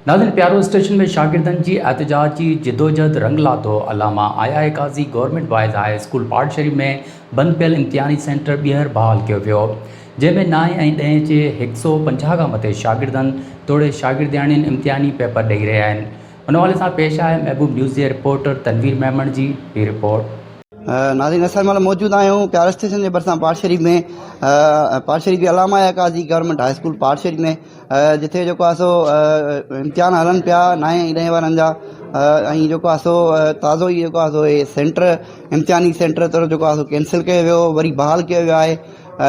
ناظرين پيارو اسٽيشن ۾ شاگردن جي احتجاجي جدوجھد رنگ لاٿو، علامه I I Kazi government boys high school پاڙشري ۾ بند پيل امتحاني سينٽر ٻيهر بحال ڪيو ويو جنهن ۾ نائين ۽ ڏهين جي هڪ سؤ پنجاهه کان مٿي شاگردن توڙي شاگردياڻين امتحاني پيپر ڏئي رهيا آهن ان حوالي سان پيش آهي محبوب نيوز جي رپورٽر تنوير ميمڻ جي هي رپورٽ. ناظرين اسان هن مهل موجود آهيون پيار اسٽيشن جي ڀرسان پاڙ شريف ۾ پاڙ شريف جي علامه قاضي گورنمينٽ هاء اسڪول پاڙ شريف ۾ جتي جيڪو آهي سو امتحان هلن پيا نائين ۽ ڏهين وارن جا ۽ جيڪو آهي سو تازو ئي جيڪو آهي سو هي سينٽر امتحاني سينٽر طور جيڪو آهي سو ڪينسل ڪيو ويو وري بحال ڪيو ويو آهي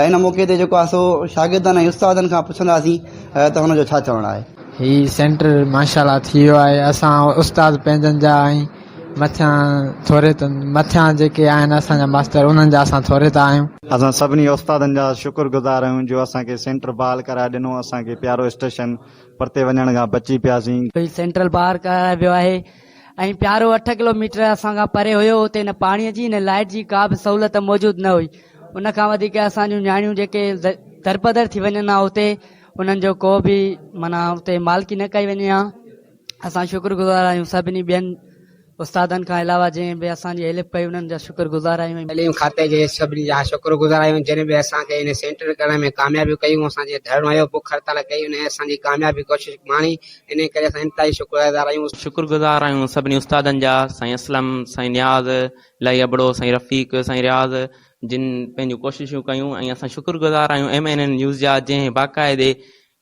ان موقعي تي جيڪو آهي سو شاگردن ۽ استادن کان پڇنداسين ته هن جو ڇا چوڻ آهي هي سينٽر ماشاء الله ٿي ويو آهي اسان استاد پنهنجن جا ۽ مٿيان ٿوري ته مٿيان جيڪي آهن اسان جا ماستر انهن جا اسان ٿوري ته آهيون. اسان سڀني استادن جا شڪر گذار آهيون جو اسان کي سينٽر بحال ڪرائي ڏنو اسان کي پيارو اسٽيشن پرتي وڃڻ کان بچي پياسين. هي سينٽر بحال ڪرائي ويو آهي ۽ پيارو اٺ ڪلو ميٽر اسان کان پري هيو اتي نه پاڻي جي نه لائيٽ جي ڪا به سهولت موجود نه هئي ان کان وڌيڪ اسان جون نياڻيون جيڪي درپدر ٿي وڃن ها اتي انهن جو ڪو به معنيٰ اتي مالڪي نه ڪئي وڃي ها. اسان شڪر گذار آهيون سڀني ٻين استادن کان علاوه جنهن به اسان جي هيلپ ڪئي انهن جا شڪر گذار آهيون ۽ تعليم کاتي جي سڀني جا شڪر گذار آهيون جن به اسان کي هن سينٽر ڪرڻ ۾ ڪاميابيون ڪيون اسان جي ڌرڻو هيو بک هڙتال ڪئي انهن اسان جي ڪامياب جي ڪوشش ماڻي انهي ڪري اسان انتهائي شڪر ادار آهيون. شڪر گذار آهيون سڀني استادن جا سائين اسلم سائين نياز الاهي ابڙو سائين رفيق سائين رياض جن پنهنجون ڪوششون ڪيون ۽ اسان شڪر گذار آهيون ايم اين اين نيوز جا جنهن باقاعدي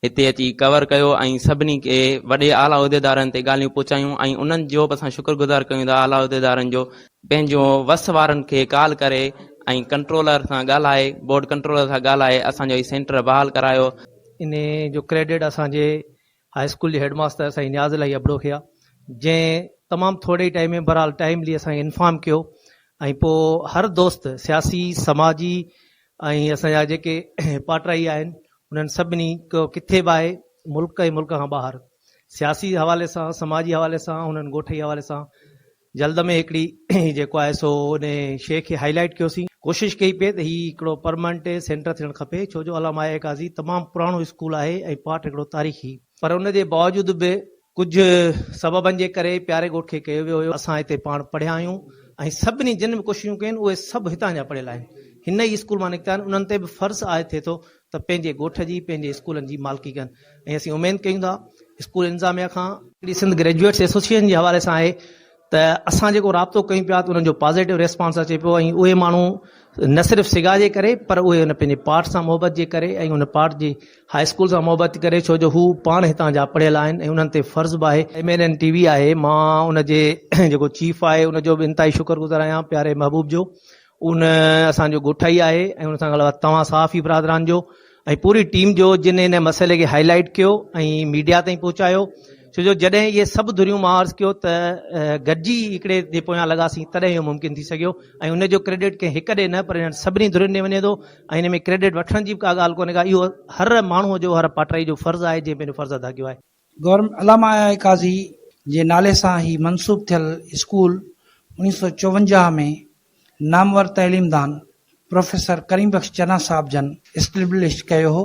هتي اچي ڪور ڪيو ۽ سڀني کي وڏي اعليٰ عهديدارن تي ڳالهيون پهچايون ۽ انهن جوب اسان شڪر گذار ڪيون ٿا اعليٰ عهديدارن جو. پنهنجو وس وارن کي ڪال ڪري ۽ ڪنٽرولر سان ڳالهائي بورڊ ڪنٽرولر سان ڳالهائي اسان جو هي سينٽر بحال ڪرايو. ان جو ڪريڊٽ اسان جي هاء اسڪول جي هيڊ ماستر سائين نياز الاهي ابڙو کي آهي جنهن تمام ٿوري ئي ٽائيم ۾ بهرحال ٽائيملي اسان کي انفارم ڪيو ۽ پوء هر دوست سياسي سماجي ۽ اسان جا جيڪي پاٽرائي آهن انهن سڀني ڪٿي به آهي ملڪ ۽ ملڪ کان ٻاهر سياسي حوالي سان سماجي حوالي سان انهن ڳوٺئي حوالي سان جلد ۾ هڪڙي جيڪو آهي سو ان شيء کي هائي لائيٽ ڪيوسين ڪوشش ڪئي پئي ته هي هڪڙو پرمانٽ سينٽر ٿيڻ کپي ڇو جو علامه آيا قاضي تمام پراڻو اسڪول آهي ۽ پاٽ هڪڙو تاريخي پر ان جي باوجود به ڪجهه سببن جي ڪري پياري ڳوٺ کي ڪيو ويو هيو. اسان هتي پاڻ پڙهيا آهيون ۽ سڀني جن به ڪوششون ڪيون اهي سڀ هتان جا پڙهيل آهن. هن ئي اسڪول مان نڪتا آهن. انهن تي به فرض عائد ٿئي ٿو ته پنهنجي ڳوٺ جي پنهنجي اسڪولن جي مالڪي ڪن ۽ اسين اميد ڪيون ٿا اسڪول انتظاميه کان. هڪڙي سنڌ گريجوئيٽس ايسوسيئيشن جي حوالي سان آهي ته اسان جيڪو رابطو ڪيون پيا ته انهن جو پازيٽو ريسپانس اچي پيو ۽ اهي ماڻهو نه صرف سگا جي ڪري پر اهي ان پنهنجي پاٽ سان محبت جي ڪري ۽ ان پاٽ جي هاء اسڪول سان محبت جي ڪري ڇو جو هو پاڻ هتان جا پڙهيل آهن ۽ انهن تي فرض به آهي M N N T V آهي مان ان جي جيڪو چيف آهي ان جو به انتهائي شڪر گذار آهيان پياري محبوب جو ان اسان جو ڳوٺائي آهي ۽ ان سان گڏ توهان صحافي برادران جو ۽ پوري ٽيم جو جن ان مسئلي کي هائي لائيٽ ڪيو ۽ ميڊيا تائين پهچايو ڇو جو جڏهن اهي سڀ ڌريون مان عرض ڪيو ته گڏجي هڪڙي جي پويان لڳاسين تڏهن اهو ممڪن ٿي سگهيو ۽ ان جو ڪريڊٽ ڪنهن هڪ ڏي نه پر انهن سڀني ڌرين ڏي وڃي ٿو ۽ ان ۾ ڪريڊٽ وٺڻ جي به ڪا ڳالهه ڪونهي ڪا اهو هر ماڻهو جو هر پاٽائي جو فرض آهي جنهن پنهنجو فرض ادا ڪيو آهي گورنمينٽ علامه آء قاضي جي نالي سان هي منسوب ٿيل اسڪول اڻيهه سؤ چوونجاهه ۾ نامور تعليم دان پروفيسر ڪريم بخش چنا صاحب جن اسٽيبلش ڪيو هو.